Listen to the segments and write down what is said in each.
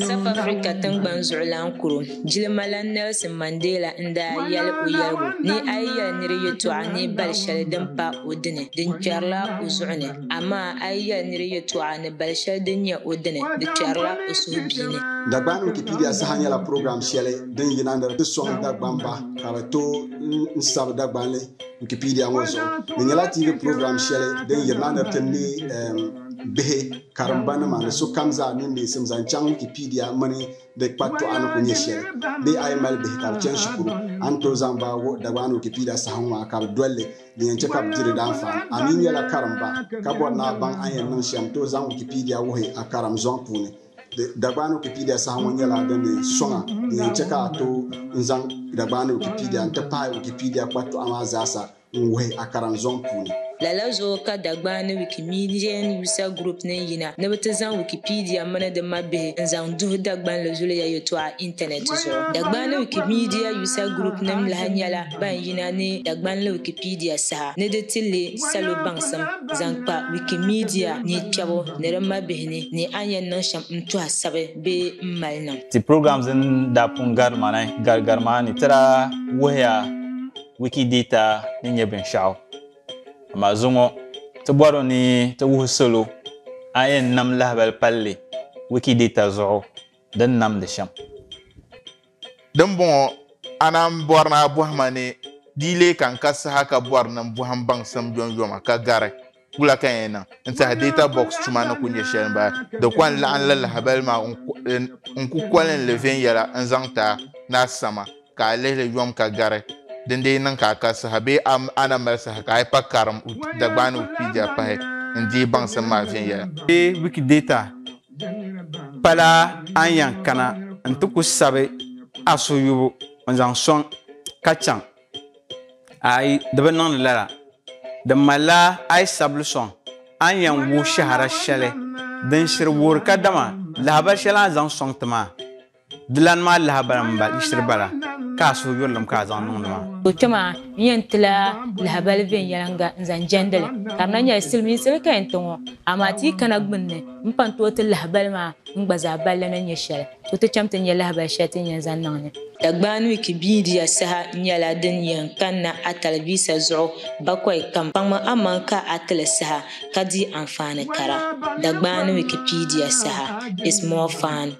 South Africa tingbani zuɣulan kuro jilimalana Nelson Mandela n daa yɛli o yɛligu ni a yi yɛli niri yɛtɔɣa ni bali shɛli din pa o dini di kpɛrila o zuɣu ni amaa a yi yɛli niri yɛtɔɣa ni bali shɛli din nyɛ o dini di kpɛrila o suhubia ni. Dagbani Wikipedia saha nyɛla purogiram shɛli din yina ni di sɔŋ Dagbamba ka bɛ tooi n sabi Dagbanli. Wikipedia ŋɔ zuɣu di nyɛla TV program shɛli din yirina ni ti me um, bihi, karimba nima ni sokam zaa mini neesim zaŋ chaŋ Wikipedia mini di kpatɔɣa ni ku nyɛ shɛli. Bee a yi mali bihi ka bi chani shikuru, a ni tooi zaŋ ba wuhi Dagbaani Wikipedia sahaŋ ŋɔ a ka bi dolli, din yɛn chɛ ka bi di di daanfaani. A mi nyɛla karimba ka bɔri ni a baŋ a ni yɛn niŋ shɛm, tooi zaŋ Wikipedia wuhi a karim zɔŋ puuni. Dagbaani Wikipedia saha ŋɔ nyɛla din ni sɔŋa din yɛn chɛ ka a tooi n-zaŋ Dagbaani Wikipedia n-ti pahi Wikipedia kpatɔɣa maa zaasa n-wuhi a karimzɔŋ puuni. Lala zuɣu ka Dagbaani Wikimedian User Group ni yina ni bɛ ti zaŋ Wikipedia mini di mabihi n-zaŋ duhi Dagbanli zuliya yɛltɔɣa intanɛti zuɣu. Dagbaani Wikimedia User Group nim lahi nyɛla. Ban yina ni Dagbanli Wikipedia saha ni di ti leei salo baŋsim zaŋ kpa Wikimedia ni kpɛbu ni di mabihi ni, ni a ni yɛn niŋ shɛm n-tuhi sabi bee m-mali niŋ. Ti program din daa pun gari ma ni gari gari maa ni ti daa wuhiya Wikidata ni nyɛ binshɛɣu. Amaa zuŋɔ ti bɔri ni ti wuhi salo a ni yɛn nam lahibali palli Wikidata zuɣu din namdi shɛm. Dimbɔŋɔ, a naan bɔri ni a bɔhi ma ni di yi lee kan ka saha ka bɔri ni n bɔhi m baŋsim yomyoma ka gari wula ka n yɛn niŋ n-tiɛhi Data Box tuma ni ku nyɛ shɛli m-bala. Di kɔŋ laɣim li lahibali maa n ku kolin li viɛnyɛla n-zaŋ ti a ni a sama ka a lihi li yom ka gari din dii niŋ ka a ka saha bee a na mali saha ka a yi pa karim Dagbaani Wikipedia pahi n-deei baŋsim maa viɛnyɛla. Bee Wikidata Pala a ni yɛn kana n ti ku sabi a suyubu n zaŋ sɔŋ ka chaŋ ayi di bi niŋdi lala di malila a yi sabili sɔŋ a ni yɛn wuhi shɛhira shɛli din shiri wuhiri kadama lahabali shɛli a ni zaŋ sɔŋ ti maa Di lan maa lahabali n ba yiɣisiri bala ka a suhu yurilim ka a zaŋ niŋdi ma. O kpe maa, n yɛn ti la lahabali viɛnyɛliŋga n-zaŋ jɛndi li, ka di na nyɛla silimiinsi li ka yɛn ti ŋɔ. Amaa ti yi kana gbunni m-pa n-tooi ti lahabali maa n gba zaa balli ni nyɛ shɛli, tooi ti cham ti ni nya lahabali shɛli ti ni yɛn zaŋ niŋ ni. Dagbaanuyiki biidiya saha nyɛla din yɛn kanna a talivisa zuɣu bakɔi kam. Kpaŋmi amaŋ ka a ti li saha ka di anfaani kara. Dagbaanuyiki piidiya saha is more fun.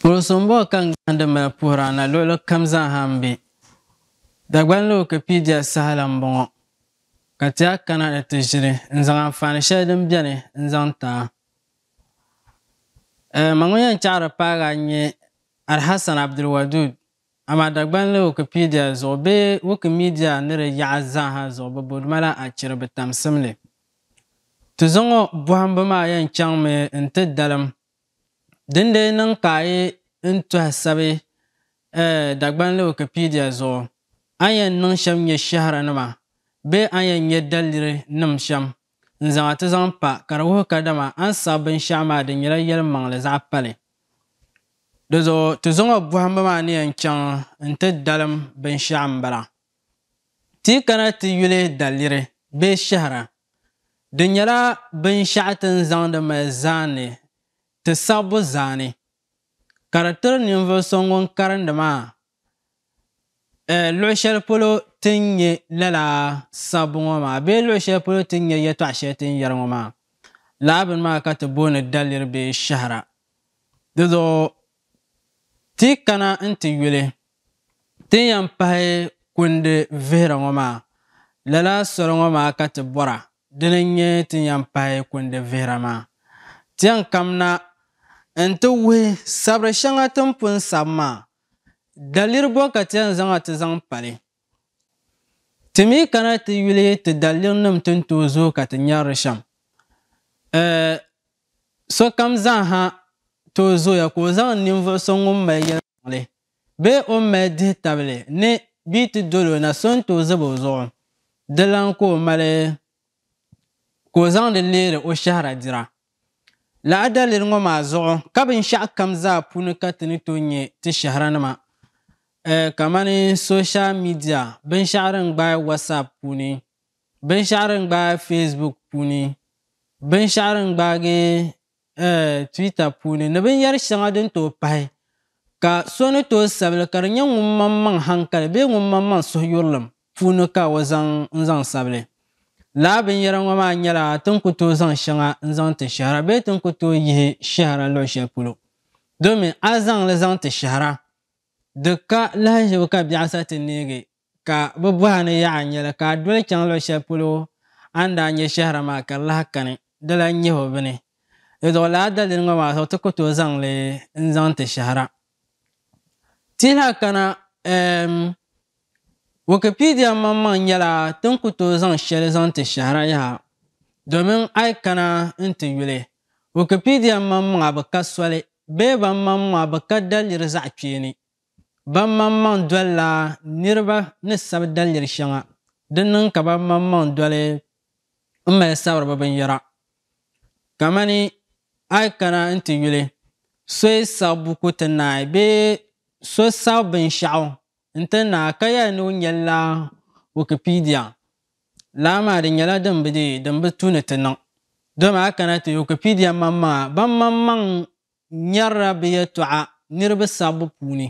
Puhiri so m-bɔhi ka n gahindi mali puhiri a na luɣili kam zaaha m-be Dagbani ni Wikipedia saha la m-bɔŋɔ ka ti a kana ni ti ʒili n-zaŋ anfaani shɛli din beni n-zaŋ ti a. Eh, Ma ŋun yɛn chaɣiri paagi a n-nyɛ Alhassan Abdulwadud, amaa Dagbani ni Wikipedia zuɣu bee Wikimedia ni di yaɣa zaaha zuɣu bɛ bo di ma la achiri bitamsim li. Ti zuŋɔ bɔhimbu maa yɛn chaŋmi n-ti dalim Dindee niŋ ka a yi n tɔhi sabi Dagbanli Wikipedia zuɣu, a ni yɛn niŋ shɛm nyɛ shɛhira nima bee a ni yɛn nyɛ daliri nim shɛm n zaŋ a ti zaŋ pa ka di wuhi kadama a ni saɣi binshɛɣu maa di nyɛla yɛli maŋli zaɣ pali. Di zuɣu ti zuŋɔ bɔhimbu maa ni yɛn chaŋ n ti dalim binshɛɣu m-bala. Ti yi kana ti yuli daliri bee shɛhira, di nyɛla binshɛɣu ti ni zaŋdi mali zaani ti sabbu zaani, ka di tiri ninvuɣ so ŋun karindi maa luɣ shɛli polo ti ni nya lala sabbu ŋɔ maa bee luɣ shɛli polo ti ni nya yɛtɔɣ shɛli ti ni yɛri ŋɔ maa. Lala bini maa ka ti booni daliri bee shɛhira. Dizuɣu Ti yi kana nti yuli ti ni yɛn pahi kundi vihira ŋɔ maa, lala soli ŋɔ maa ka ti bɔra, dini n-nyɛ ti ni yɛn pahi kundi vihira maa. Ti yɛn kamina nti wuhi sabiri shɛŋa ti ni pun sabi maa, daliri bɔ ka ti yɛn zaŋ a ti zaŋ pali? Ti mi kana ti yuli ti dalirnim ti ni tooi zooi ka ti nyarili shɛm. Eh, sokam zaaha tooi zooya ka o zaŋ ninvuɣ so ŋun mali yɛlimaŋli bee o ni mali dihitabili ni bɛ yi ti dol o na so n-tooi zab o zuɣu. Di lan ka o mali ka o zaŋdi leeri o shɛhira dira. Lala daliri ŋɔ maa zuɣu ka binshɛɣu kam zaa puuni ka ti ni tooi nyɛ ti shɛhiranima kamani soshal midia, binshɛɣu din gbaai WhatsApp puuni, binshɛɣu din gbaai Facebook puuni, binshɛɣu din gbaagi Twitter puuni ni binyɛr shɛŋa din tooi pahi, ka so ni tooi sabili ka di nyɛ ŋun maŋmaŋ haŋkali bee ŋun maŋmaŋ suhuyurlim puuni ka o zaŋ n-zaŋ sabili. Lala binyɛra ŋɔ maa nyɛla ti ni ku tooi zaŋ shɛŋa n-zaŋ ti shɛhira bee ti ni ku tooi yihi shɛhira luɣ shɛli polo. Domin a zaŋ li zaŋ ti shɛhira, di ka lahiʒibu ka biɛɣu sa ti neegi ka bɛ bɔh a ni yaɣ a nyɛli ka a doli chaŋ luɣ shɛli polo a ni daa nyɛ shɛhira maa ka di lahi kani. Dala nyihibu bini, di zuɣu lala daliri ŋɔ maa zuɣu ti ku tooi zaŋ li n-zaŋ ti shɛhira. Tɛha kana um, Wikipedia maŋmaŋ nyɛla tin ku tooi zaŋ shɛli zaŋ ti shɛhira yaha domin a yi kana n-ti yuli, Wikipedia maŋmaŋa bi ka soli bee ban maŋmaŋa bi ka daliri zaɣ kpeeni. Ban maŋmaŋ dolila niriba ni sabi daliri shɛŋa, din niŋ ka ban maŋmaŋ doli m-mali sabiri bɛ binyɛra Kamani a yi kana nti yuli so yi saɣi buku ti naai bee so saɣi binshɛɣu nti naai ka yɛli ni o nyɛlila Wikipedia, laa maa di nyɛla din bi dii, din bi tu ni ti niŋ. Dama a kana ti Wikipedia maŋmaŋa, ban maŋmaŋ N nyarila bɛ yɛltɔɣa niriba sabbu puuni.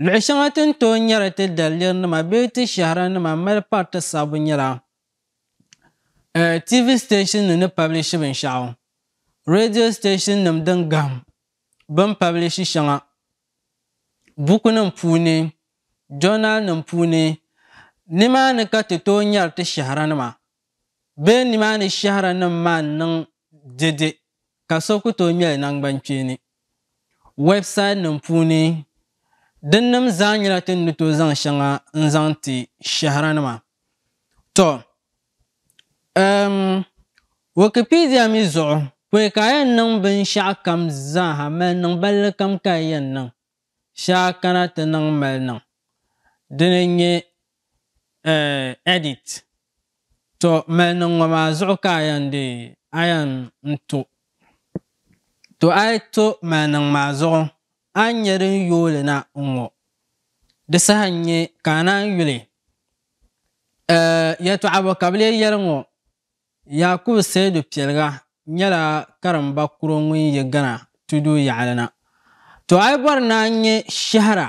Luɣ shɛŋa ti ni tooi nyari ti dalirinima bee ti shɛhiranima m-mali pari ti sabbu nyɛla, a TV siteeshinnima ni pabilishi binshɛɣu, reediyo siteeshinnima din gahim bɛ ni pabilishi shɛŋa bukunima puuni, jɔɔnalinima puuni. Nimaani ka ti tooi nyari ti shɛhiranima. Bee nimaani shɛhiranim maa n-niŋ dɛde ka so ku tooi ŋmɛli naŋgbankpeeni wɛbsaitnim puuni. Dinnim zaa nyɛla ti ni tooi zaŋ shɛŋa n-zaŋ ti shɛhiranima. Tɔ! Ɛɛm, Wikipedia mi zuɣu, pɔi ka a yɛn niŋ binshɛɣukam zaaha mali niŋ ballikam ka a yɛn niŋ. shɛŋa kana ti niŋ mali niŋ dini n-nyɛ eh edit to mali niŋ ŋɔ maa zuɣu ka a yɛn dee a yɛn n-to to a yi to mali niŋ maa zuɣu a ni nyɛ din yooi li na n-ŋɔ di saha n-nyɛ ka a naan yuli eh yɛltɔɣa bɔ ka bɛ lee yɛli ŋɔ Yakubu Seidu Piɛliga nyɛla karimba kuro ŋun yi Ghana tudu yaɣili na. To a yi bɔri ni a nya shɛhira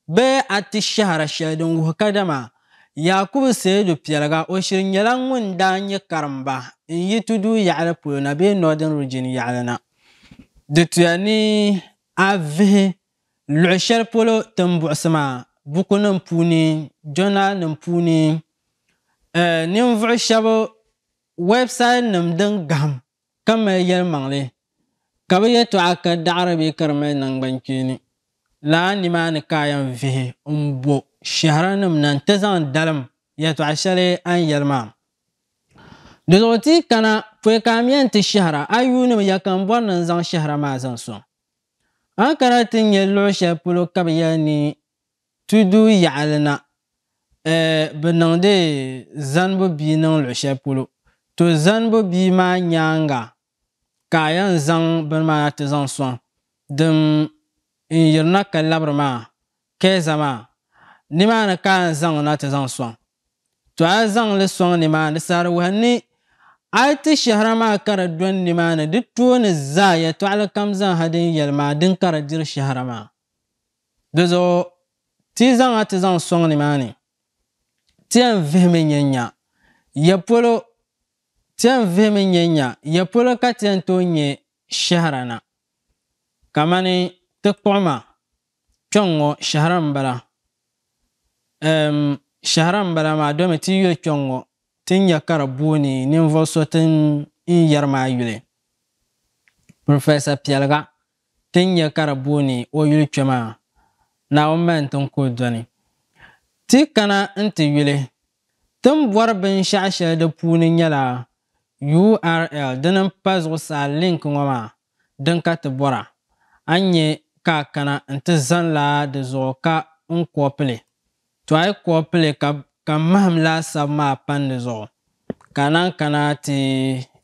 bee a ti shɛhira shɛli din wuhi kadama Yakubu Seidu Piɛliga o shiri nyɛla ŋun daa nyɛ karimba n-yi tudu yaɣili polo na bee Northern Region yaɣili na. Di tuya ni a vihi Luɣi shɛli polo ti ni buɣisi maa, bukunim puuni, jɔnaalinim puuni, ninvuɣu shɛba wɛbsayitinim din gahim ka mali yɛlimaŋli, ka bɛ yɛtɔɣa ka daɣiri bee ka di mali naŋgbankpeeni, lala nimaani ka a yɛn vihi m-bo shɛhiranim na nti zaŋ dalim yɛtɔɣ shɛli a ni yɛli maa. Di zuɣu ti yi kana pɔi ka a mi yɛn ti shɛhira a yuunim ya ka m bɔri ni n zaŋ shɛhira maa zaŋ sɔŋ. A ni kana ti nya luɣ shɛli polo ka bɛ yɛli ni tudu yaɣili na, ɛɛ, bɛ niŋdi zanibu bia niŋ luɣ shɛli polo, to zanibu bia maa nyaaŋa ka a yɛn zaŋ bini maa na ti zaŋ sɔŋ din n yirina ka labiri maa, kɛɛza maa, nimaani ka a yɛn zaŋ li na ti zaŋ sɔŋ. To a zaŋ li sɔŋ nimaani sarawuhi ni a yi ti shɛhira maa ka di dɔni nimaani di tooni zaa yɛtɔɣili kam zaaha din yɛli maa dini ka di diri shɛhira maa. Di zuɣu ti yi zaŋ a ti zaŋ sɔŋ nimaani, ti yɛn vihimi nya nya ya polo ti yɛn vihimi nya nya ya polo ka ti yɛn tooi nyɛ shɛhira na kamani ti kpuɣima Kpɛŋ ŋɔ shɛhira m-bala. Ɛɛm, shɛhira m-bala maa domi ti yuli kpɛŋ ŋɔ ti ni nya ka di booni ninvuɣ so ti ni yɛri maa yuli. Professor Piɛliga ti ni nya ka di booni o yuli kpe maa, Naawuni mali n ti ni kuli dɔni. Ti kana nti yuli. Ti ni bɔri binshɛɣu shɛli di puuni nyɛla URL dini m-pa zuɣusaa link ŋɔ maa din ka ti bɔra, a ni nya ka a kana nti zani la di zuɣu ka n kɔpili, to a yi kɔpili ka ka m mahim laasabu maa pan di zuɣu, ka a naan kana ti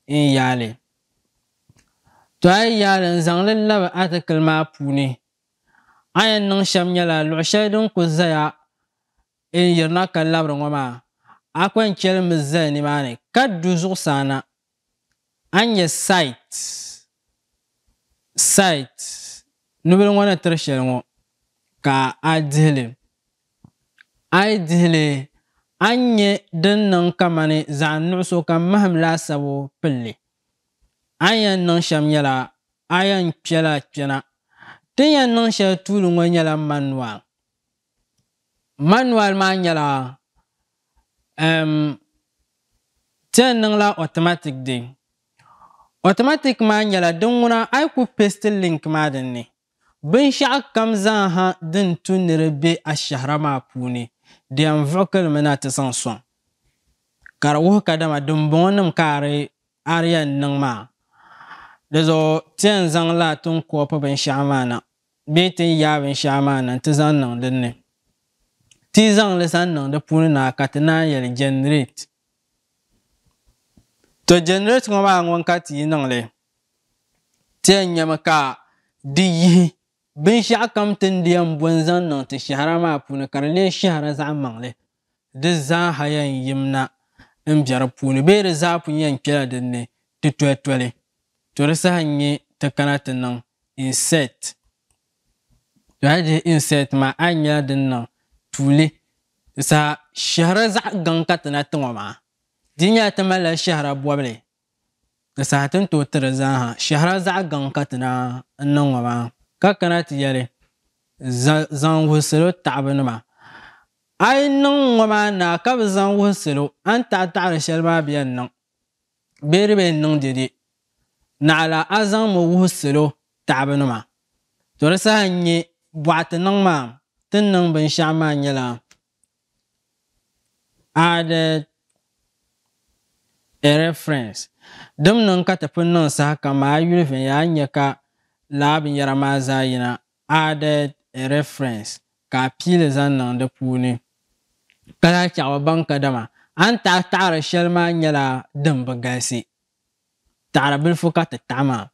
n yaali. To a yi yaali n zaŋ li labi atikili maa puuni, a yɛn niŋ shɛm nyɛla luɣ shɛli din kul zaya n yirina ka labiri ŋɔ maa, a kɔŋ chɛli mi zali nimaani ka du zuɣusaa na. A ni nyɛ site, site, nubili ŋɔ ni tiri shɛli ŋɔ ka a dihi li. A yi dihi li a ni nyɛ din niŋ kamani zaɣ nuɣiso ka mahim laasabu pili li. A ni yɛn niŋ shɛm nyɛla a yɛn kpɛla kpɛna. Ti ni yɛn niŋ shɛli tuuli ŋɔ nyɛla manual. Manual maa nyɛla um, ti ni niŋla automatic di. Automatic maa nyɛla din ŋuna a yi ku paste link maa din ni, binshɛɣu kam zaa ha din tu ni di be a shɛhira maa puuni di yɛn vuɣikili mi na ti zaŋ sɔŋ. Ka di wuhi kadama dimbɔŋɔ nim ka a di a di yɛn niŋ maa. Di zuɣu ti yɛn zaŋ la ti ni copy binshɛɣu maa na bee ti ni yaai binshɛɣu maa na nti zaŋ niŋ din ni. Ti yi zaŋ li zaŋ niŋ di puuni na ka ti naan yɛli generate. To generate ŋɔ maa ŋun ka ti yi niŋ li? Ti yɛn nyami ka di yihi binshɛɣu kam ti ni di yɛn bo n-zaŋ niŋ ti shɛhira maa puuni ka di lee shɛhira zaɣ maŋli di zaaha yɛn yim na m-be di puuni bee di zaa pun yɛn kpela din ni ti toli toli, to di saha n-nyɛ ti kana ti niŋ insert. To a yi dihi insert maa a yi nyɛla din niŋ tuuli di saha shɛhira zaɣ'gaŋ ka ti na ti ŋɔ maa di nyɛla ti malila shɛhira bɔbili Di saha ti ni tooi ti di zaaha shɛhira zaɣ gaŋ ka ti daa n niŋ ŋɔ maa, ka kana ti yɛli, Zaŋ wuhi salo taɣibu nima. A yi niŋ ŋɔ maa naa ka bi zaŋ wuhi salo a ni taɣi taɣiri shɛli maa bɛ yɛn niŋ bee di bi yɛn niŋ dɛde, naɣila a zaŋ mi wuhi salo taɣibu nima. To di saha n-nyɛ bɔɣa ti niŋ maa, ti ni niŋ binshɛɣu maa nyɛla Added a reference. Dim niŋ ka ti pun niŋ sahakam maa a yuli viɛnyɛla a ni nya ka lala binyɛra maa zaa yina added a reference ka a pii li zaŋ niŋ di puuni ka lahi chaɣ ba baŋ kadama a ni taɣi taɣiri shɛli maa nyɛla din bi galisi taɣiri bilifu ka ti taɣi maa.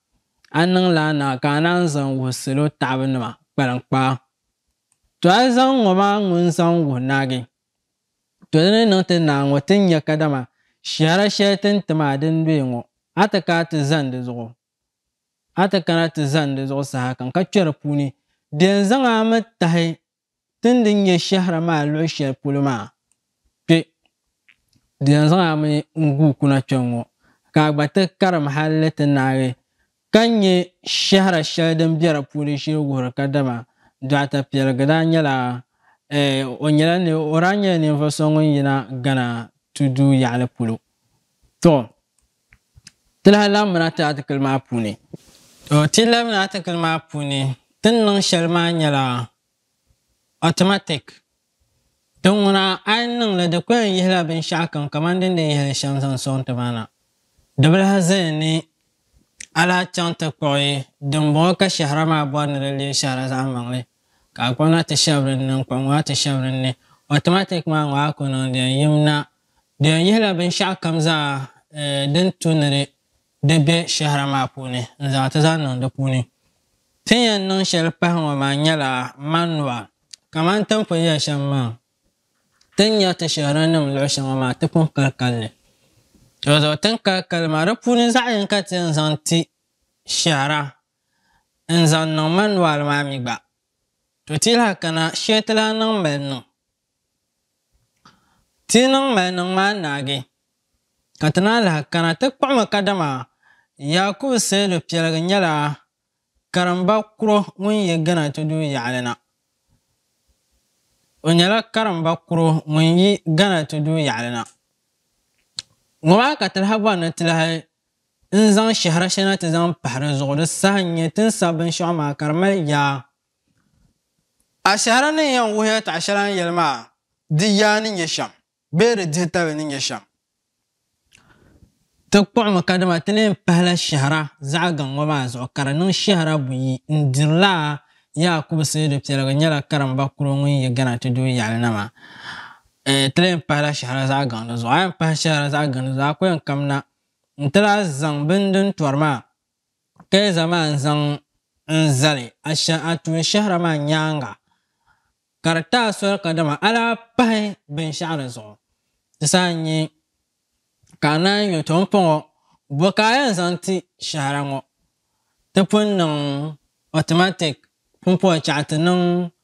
A ni niŋ lala niŋ a ka a naan zaŋ wuhi salo taɣibu nima kpaliŋkpaa. To a zaŋ ŋɔ maa ŋun zaŋ wuhi Naagi, to di ni niŋ ti naa ŋɔ ti nya kadama shɛhira shɛli ti ni ti ma a din luhi ŋɔ, a ti kana ti zani di zuɣu, a ti kana ti zani di zuɣu sahakam ka kpɛri puuni, di yɛn zaŋ a mi tahi ti ni di nyɛ shɛhira maa luɣ shɛli polo maa. Kpe! Di yɛn zaŋ a mi n-guui kuna kpɛŋŋɔ, ka a gba ti karim hal ni ti naagi ka nya shɛhira shɛli din be di puuni shili wuhiri kadama Dɔɣita Piɛligi daa nyɛla, ɛɛ, o nyɛla ni, o daa nyɛla ninvuɣ so ŋun yina Ghana tudu yaɣili polo. Tɔ! Ti lahi labimina ti atikili maa puuni. Tɔ! Ti yi labimina atikili maa puuni, ti ni niŋ shɛli maa nyɛla automatic Ti ŋuna a ni niŋ li di kuli yihila binshɛɣu kam kamani din di yihili shɛm zaŋ sɔŋ ti ba na. Dibilahi zaya ni a lahi chaŋ ti kpuɣi dimbɔŋɔ ka shɛhira maa bɔri ni di leei shɛhira zaɣimaŋli, ka a kɔna ti shɛbiri n ni, n kpuɣi ŋɔ a ti shɛbiri n ni, automatic maa ŋɔ a ku niŋ di yɛn yim na. Di yɛn yihila binshɛɣu kam zaa din tu ni di di be shɛhira maa puuni n-zaŋ ti zaŋ niŋ di puuni. Ti ni yɛn niŋ shɛli pahi ŋɔ maa nyɛla manual, kamani ti ni pun yɛli shɛm maa, ti ni nya ti shɛhiranim luɣ shɛŋa maa ti pun kali kali li. Dinzuɣu ti ni kali kali li maa, di puuni zaɣ yinka ti yɛn zaŋ ti shɛhira n-zaŋ niŋ manual maa mi gba. To ti yi lahi kana, shee ti lahi niŋ m-mali niŋ. Ti yi niŋ maliniŋ maa naagi, ka ti naa lahi kana ti kpuɣimi kadama Yakubu Seidu Piɛligi nyɛla karimba kuro ŋun yi Gana tudu yaɣili na. O nyɛla karimba kuro ŋun yi Gana tudu yaɣili na. Ŋɔ maa ka ti lahi bɔri ni ti lahi n zaŋ shɛhira shɛli na ti zaŋ pahi di zuɣu di saha n-nyɛ ti ni sabi binshɛɣu maa ka di mali yaa Ashaara ni yɛn wuhiya taɣa shɛli a ni yɛli maa di yaa ni nyɛ shɛm bee di dihi tabili ni nyɛ shɛm. Ti kpuɣimi kadama ti ni yɛn pahila shɛhira zaɣ gaŋ ŋɔ maa zuɣu ka di niŋ shɛhira buyi n-dirila Yaakubu Seidu Piɛligu nyɛla karimba kuro ŋun yi Gana ti doo yaɣili na maa. Eeh ti lee yɛn pahila shɛhira zaɣ gaŋ di zuɣu a yɛn pahi shɛhira zaɣ gaŋ di zuɣu a ku yɛn kamina n-ti lahi zaŋ bini din tɔri maa Tɛɛza maa n-zaŋ n-zali Ashɛha tuunshɛhira maa nyaaŋa, ka di taai soli kadama a daa pahi binshɛɣu di zuɣu, ti saha n-nyɛ ka a naai nyo ti m-pɔŋɔ, bɔ ka a yɛn zaŋ ti shɛhira ŋɔ? Ti pun niŋ automatic pumpɔɣu chɛɣu ti niŋ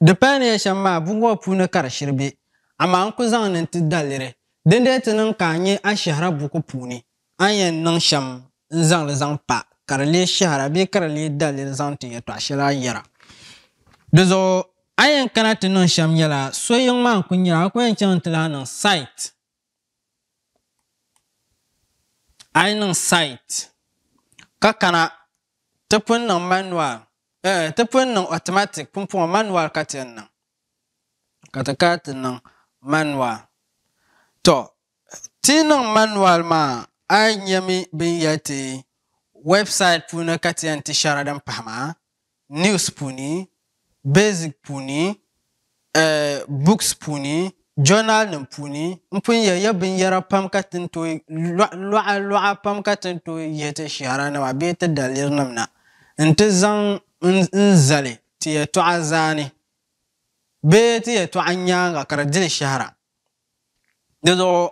Di paya ni ya shɛm maa buku ŋɔ puuni ka di shiri be, amaa n ku zaŋmi n-ti daliri. Dindee ti niŋ ka a nya a shɛhira buku puuni, a ni yɛn niŋ shɛm n-zaŋ li zaŋ pa ka di lee shɛhira bee ka di lee daliri zaŋ ti yɛtɔɣ shɛli a ni yɛra. Di zuɣu a ni yɛn kana ti niŋ shɛm nyɛla, so yiŋ maa n-kul nyari a, a ku yɛn chaŋ nti lahi niŋ site. A yi niŋ site ka kana ti pun niŋ manual eh, ti pun niŋ automatic pumpɔŋɔ manual ka ti yɛn niŋ ka ti kana ti niŋ manual to ti yi niŋ manual maa a yi nyɛmi bin yɛli ti website puuni ka ti yɛn ti shɛra din pahi maa news puuni, basic puuni, eh, books puuni, journal nim puuni n pun yɛ ya binyɛra pam ka ti ni tooi luɣa luɣa pam ka ti ni tooi yɛ ti shɛhira nima bee ti daliri nim na n ti zaŋ n zali ti yɛtɔɣa zaa ni bee ti yɛtɔɣa nyaaŋa ka di dili shɛhira. Dizuɣu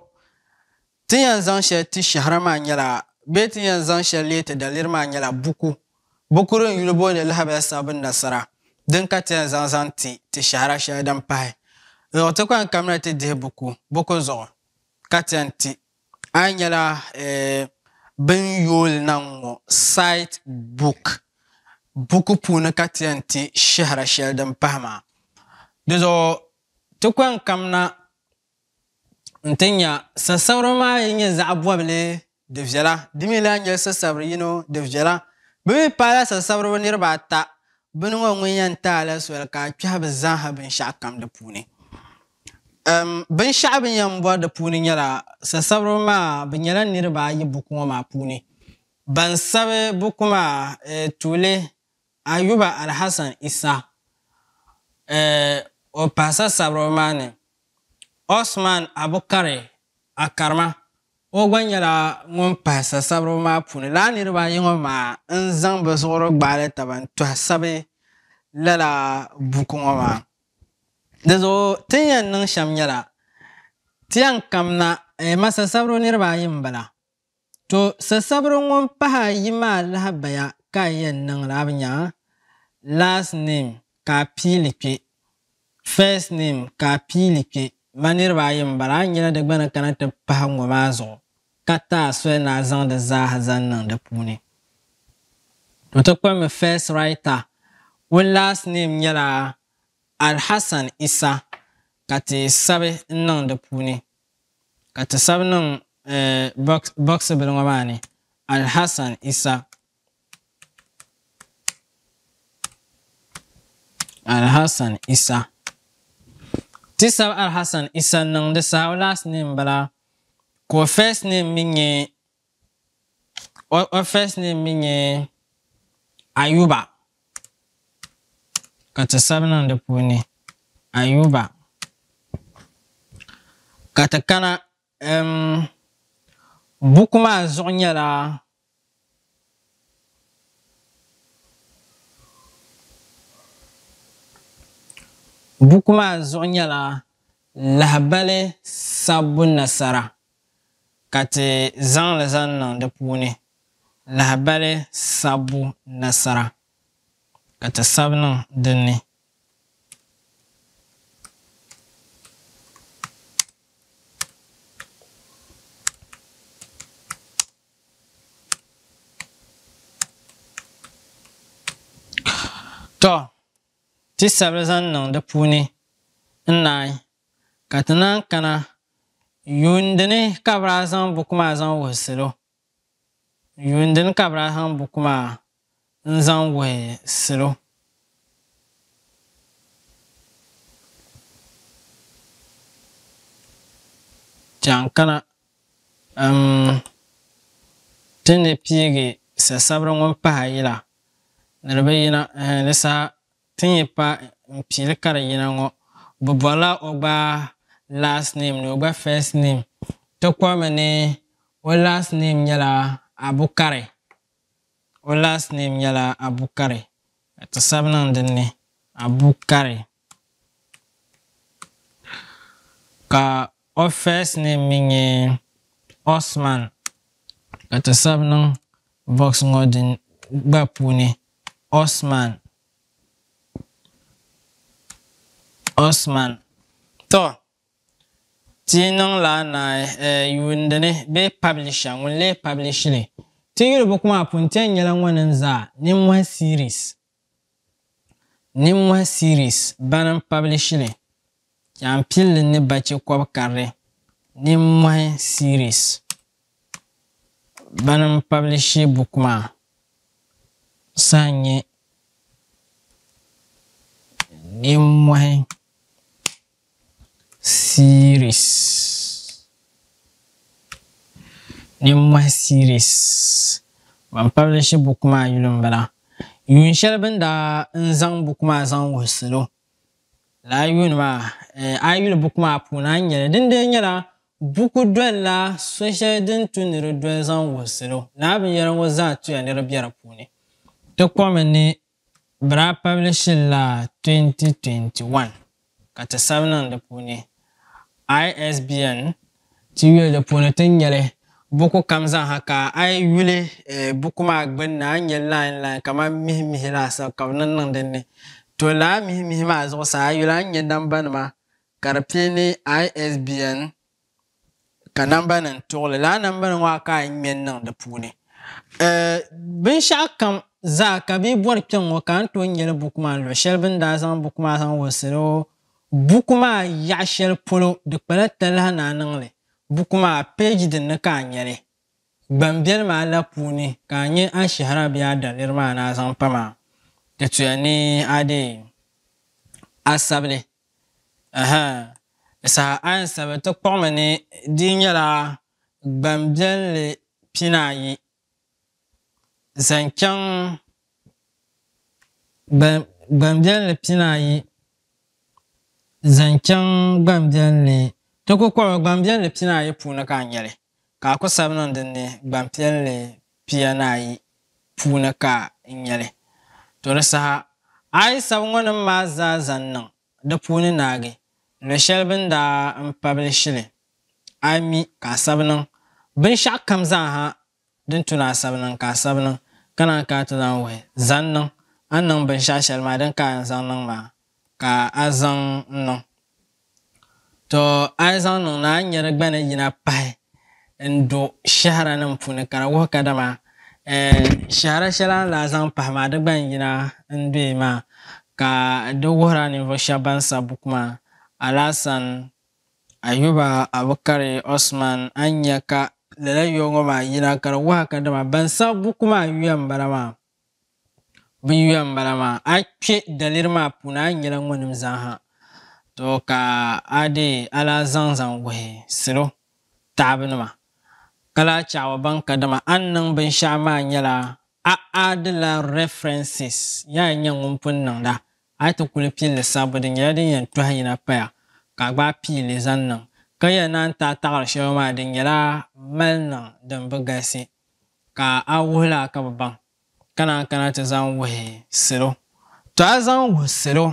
ti yɛn zaŋ shɛli ti shɛhira maa nyɛla bee ti yɛn zaŋ shɛli leei ti daliri maa nyɛla buku buku din yuli booni Lahabaya Sabbu Nasara din ka ti yɛn zaŋ zaŋ ti ti shɛhira shɛli din pahi Ɔɔ ti kpaŋ kamina ti dihi buku buku zuɣu ka ti yɛn ti a yi nyɛla eh, bini yooli na ŋ-ŋɔ site book buku puuni ka ti yɛn ti shɛhira shɛli din pahi maa. Dizuɣu Ti kɔŋ kam na nti nya sasabira maa yi nyɛ zaɣ bɔbili di viɛla, di mi lahi nyɛla sasabir yino di viɛla. Bɛ mi paala sasabiriba niriba ata, bini ŋɔ ŋun yɛn ti a la soli ka a kpɛhi bɛ zaaha binshɛɣu kam di puuni. Um, binshɛɣu bɛ ni yɛn bɔri di puuni nyɛla, sasabiriba maa bɛ nyɛla niriba ayi buku ŋɔ maa puuni. Ban sabi buku maa, eh, tuuli Ayuba Alhassan Issa eh o pahisa sabiriba maa ni Osman Abukari Akarma o gba nyɛla ŋun pahisa sabiriba maa puuni lala niriba ayi ŋɔ maa n zaŋ bɛ zuɣuri gbaali taba n tɔhi sabi lala buku ŋɔ maa di zuɣu ti ni yɛn niŋ shɛm nyɛla ti yɛn kamna eh masasabiriba niriba ayi m bala To sasabiri ŋun pah a yi maa lahabaya ka a yɛn niŋli a bi nya a last name ka a piili kpe first name ka a piili kpe ma niriba ayi m bala a nyɛla di gba ni kana ti pahi ŋɔ maa zuɣu ka ti a soli ni a zaŋ di zaaha zaŋ niŋ di puuni to ti kpiri mi first writer ŋun last name nyɛla Alhassan Isa ka ti sabi n niŋ di puuni. ka ti sabi niŋ bɔɣisibili ŋɔ maa ni, Alhassan Isa, Alhassan Isa. Ti sabi Alhassan Isa n-niŋ di saha o last name bala ka o first name mi nyɛ O, o first name mi nyɛ Ayuba. Ka ti sabi niŋ di puuni Ayuba. Ka ti kana um, buku maa zuɣu nyɛla buku maa zuɣu nyɛla lahibali sabbu nasara. ka ti zaŋ li zaŋ niŋ di puuni lahabali sabbu nasara ka ti sabi niŋ din ni. Tɔ, ti sabi li zaŋ niŋ di puuni n-naai Ka ti naan kana yuundi ni ka bɛ daa zaŋ buku maa zaŋ wuhi salo. Yuundi ni ka bɛ daa zaŋ buku maa n-zaŋ wuhi salo. Chaŋ kana um ti ni piigi sasabiri ŋun pahi a yila ni di bi yina eh, di saha. Ti ni pa n pili ka di yina ŋɔ, bɛ bɔrila o gba last name ni o gba first name. Ti kɔrimi ni o last name nyɛla Abukari. O last name nyɛla Abukari ka ti sabi niŋ din ni Abukari ka o first name mi nyɛ Osman ka ti sabi niŋ box ŋɔ din gba puuni Osman, Osman. Tɔ! Ti yi niŋ la naai eh, yuundi ni bee publisher ŋun lee publish li. Ti yuli buku maa puuni ti yɛn nyɛla ŋɔ ni zaa Nimmɔhi Series, Nimmɔhi Series bani n-publish li. Jaanpilli ni bache kɔb karili nimmɔhi series bani n publishi buku maa saha nyɛ nimmɔhi series nimmɔhi series bani publishi buku maa yuli n bala yuun shɛli bini daa n zaŋ buku maa zaŋ wuhi salo Lala yuun maa, a yi yuli buku maa puuni, a ni nyɛ li. Dindee nyɛla buku dolila so shɛli din tu ni di doli zaŋ wuhi salo. Lala binyɛra ŋɔ zaa tuya ni di be di puuni. Ti kɔmi ni bɛ daa pabilishili la 2021, ka ti sabi niŋ di puuni. ISBN ti yuli di puuni ti ni nya li. Buku kam zaŋha ka a yi yuli buku maa gbinni a ni nya line line kamani mihi mihi laasabu ka bɛ niŋ niŋ din ni. To lala mihi mihi maa zuɣusaa a yuli a ni nya nambanima ka di pili ni ISBN. Ka nambanim tuɣili lala nambanim ŋɔ a ka a ŋme n-niŋ di puuni binshɛɣu kam zaa ka bɛ bɔri kpɛŋŋɔ ka a ni tooi nya li buku maa ni luɣ shɛli bɛ ni daa zaŋ buku maa zaŋ wulsiri o buku maa yaɣ shɛli polo di kpala talahi ni a niŋ li buku maa peeji din ni ka a nya li gbambiɛl maa la puuni ka a nya a shɛhira bee a daliri maa ni a zaŋ pa maa di tuya ni a deei a sabili Aha! Saha a ni sabi ti kpuɣi mi ni di nyɛla gbanbiɛlli pinaayi zaŋ chaŋ gbanbiɛlli pinaayi zaŋ chaŋ gbanbiɛlli ti ku kpuɣi mi gbanbiɛlli pinaayi puuni ka a nyɛli Ka a ku sabi niŋ din ni gbanpiɛlli pia ni ayi puuni ka n nya li. To di saha a yi sabi ŋɔ nim maa zaa zaŋ niŋ di puuni naagi luɣ shɛli bɛ ni daa n pabili shili, a yi mi ka a sabi niŋ binshɛɣu kam zaaha din tu ni a sabi niŋ ka a sabi niŋ, ka naan kana ti zaŋ wuhi zaŋ niŋ a ni niŋ binshɛɣu shɛli maa din ka a yɛn zaŋ niŋ maa ka a zaŋ n-niŋ. Tɔ! A yi zaŋ niŋ na, a ni nya di gba ni yina pahi n-do shɛhiranim puuni ka di wuhi kadama shɛhira shɛli a ni lahi zaŋ pahi maa di gba n-yina n-do yi maa, ka di wuhir a ninvuɣ shɛba bɛn sa buku maa, Alasan, Ayuba, Abukari, Usman, a ni nya ka lala yɔɔ ŋɔ maa yina ka di wuhi a kadama bɛn sa buku maa yuya m-bala maa. Bin yuya n bala maa a kpɛ daliri maa puuni a nyɛla ŋɔ nim zaaha to ka a dee a lahi zaŋ zaŋ wuhi salo taɣabu nima ka lahi chaɣaba ban ka dama a ni niŋ binshɛɣu maa nyɛla a aadila references yaa nyɛ ŋun pun niŋda a yi ti kuli pilli sabbu di nyɛla din yɛn tɔhi yina paya ka a gbaai pii li zaŋ niŋ ka yɛn naan taai taɣiri shɛli maa di nyɛla mali niŋ din bi galisi Ka a wuhi la ka bɛ baŋ, ka naan kana ti zaŋ wuhi salo. Tɔ! A zaŋ wuhi salo,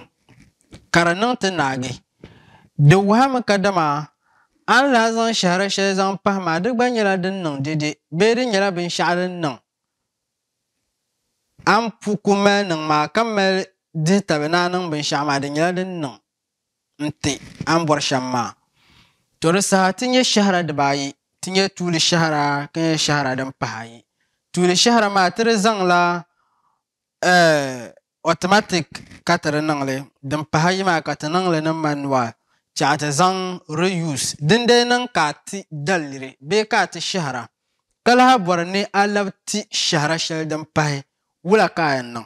ka di niŋ ti naagi. Di wuhimi kadama a ni daa zaŋ shɛhira shɛli zaŋ pahi maa, di gba nyɛla din niŋ dede bee di nyɛla binshɛɣu din niŋ a ni ku mali niŋ maa, ka mali dihi tabi ni a niŋ binshɛɣu maa, di nyɛla din niŋ. n-ti a ni bɔri shɛm maa. Tɔ di saha ti nya shɛhira dibaayi, ti nya tuuli shɛhira ka nya shɛhira din pahi ayi. Tuuli shɛhira maa ti di zaŋla automatic ka ti di niŋ li, din pahi ayi maa ka ti niŋ li ni manual chɛɣu ti zaŋ re-use. Din dali niŋ ka a ti daliri bee ka a ti shɛhira ka lahi bɔri ni a labi ti shɛhira shɛli din pahi, wula ka a yɛn niŋ?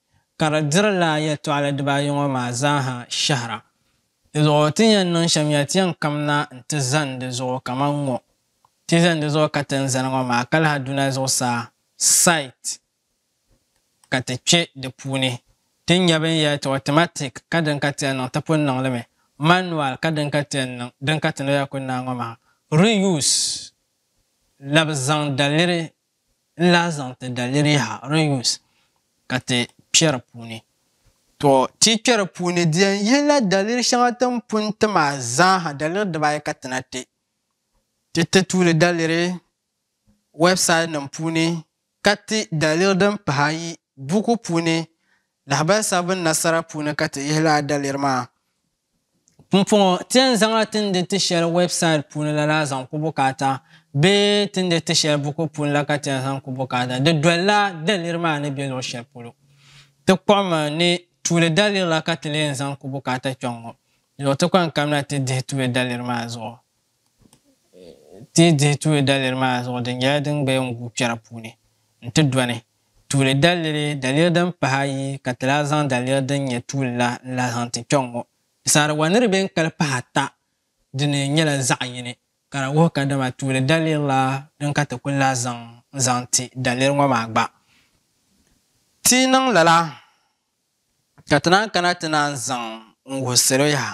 ka di diri lala yɛtɔɣili dibaayɔŋɔ maa zaaha shɛhira. Di zuɣu ti ni yɛn niŋ shɛm ya ti yɛn kamina nti zani di zuɣu kaman ŋ-ŋɔ. Ti zani di zuɣu ka ti ni zani ŋɔ maa ka lahi duna zuɣusaa, site, ka ti kpe di puuni. Ti ni nya bini yɛli ti automatic ka din ka ti yɛn niŋ ti pun niŋ li mi, manual ka din ka ti yɛn niŋ din ka ti ni yɛli ku naai ŋɔ maa, reuse, labi zaŋ daliri n lahi zaŋ ti daliriha, reuse, ka ti kpe di puuni. Tɔ! Ti kpe di puuni di yɛn yihila daliri shɛŋa ti ni pun ti maa zaaha, daliri dibaayi ka ti na ti. Ti ti tuuli daliri wɛbsaidinim puuni ka ti daliri din pahi ayi buku puuni Lahabali sabi bini na sara puuni ka ti yihi lala daliri maa. Pumpɔŋɔ, ti yɛn zaŋla tindi ti shɛli wɛbsaid puuni la la zaŋ ku bukaata bee tindi ti shɛli buku puuni la ka ti yɛn zaŋ ku bukaata. Di dolila daliri maa ni be luɣ shɛli polo. Ti kpuɣimi ni tuuli daliri la ka ti lee yɛn zaŋ ku bukaata kpɛŋ ŋɔ. Luɣ ti kpaŋ kamina ti dihi tuuli daliri maa zuɣu. Ti yi dihi tuuli daliri maa zuɣu di nyɛla din gbaya n-guui kpɛra puuni n-ti dɔni tuuli daliri, daliri din pahi ayi ka ti lahi zaŋ daliri din nyɛ tuuli la n-lahi zaŋ ti kpɛŋ ŋɔ. Pisaariwa ni di beni kali pahi ata dini nyɛla zaɣ yini ka di wuhi kadama tuuli daliri la din ka ti kul lahi zaŋ n-zaŋ ti daliri ŋɔ maa gba. Ti yi niŋ lala ka ti naan kana ti naan zaŋ n-wuhi salo yaha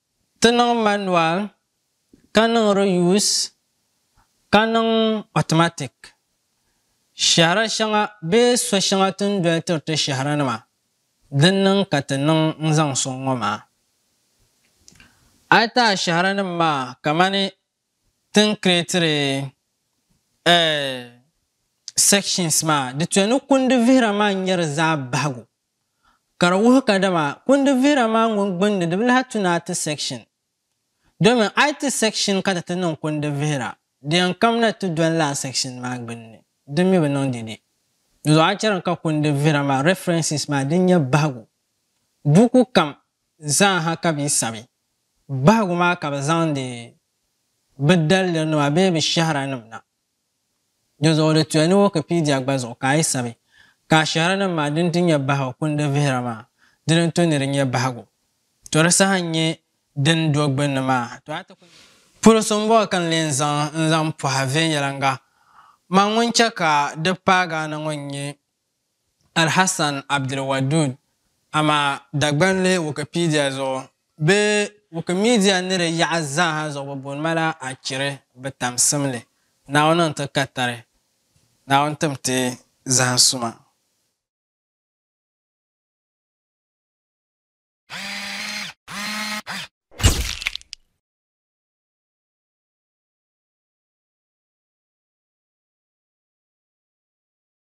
Ti niŋ manual, ka niŋ reuse, ka niŋ automatic. Shɛhira shɛŋa bee so shɛŋa ti ni doli tiri ti shɛhiranima, din niŋ ka ti niŋ n-zaŋ sɔŋ ŋɔ maa. A yi ti a shɛhiranim maa kamani ti ni creatiri eh sections maa, di tooi ni kundi vihira maa n-nyɛ di zaa bahigu. ka di wuhi kadama kundi vihira maa ŋun gbunni di bi lahi tu ni a ti section. Domin a yi ti section ka ti ti niŋ kundi vihira, di yɛn kamla ti doli lala section maa gbunni. Di mi bi niŋ di ni. Dinzuɣu a chɛri ka kundi vihira maa references maa din nyɛ bahigu buku kam zaa ha ka bɛ yi sabi bahigu maa ka bɛ zaŋdi bɛ daliri nima bee bɛ shɛhira nim na. Dinzuɣu di tuya ni Wikipedia gba zuɣu ka a yi sabi ka ashiharinim maa din ti nyɛ bahi o kundi vihira maa dini n to ni di nyɛ bahigu. To di saha n nyɛ din do gbinni maa ha to a ti ku nyɛ polo so n bɔŋɔ ka n leen zaŋ n zaŋ pɔhi viɛnyɛliŋga. Man ŋun chɛ ka di paagi a na ŋɔ n nyɛ Alhassan Abdulwadood, amaa Dagbanli Wikipedia zuɣu bee Wikimedia ni di yaɣa zaaha zuɣu bɛ booni ma la Akiri bɛ tamsim li, Naawuni n-ti ka tari, Naawuni tim ti zahim suma.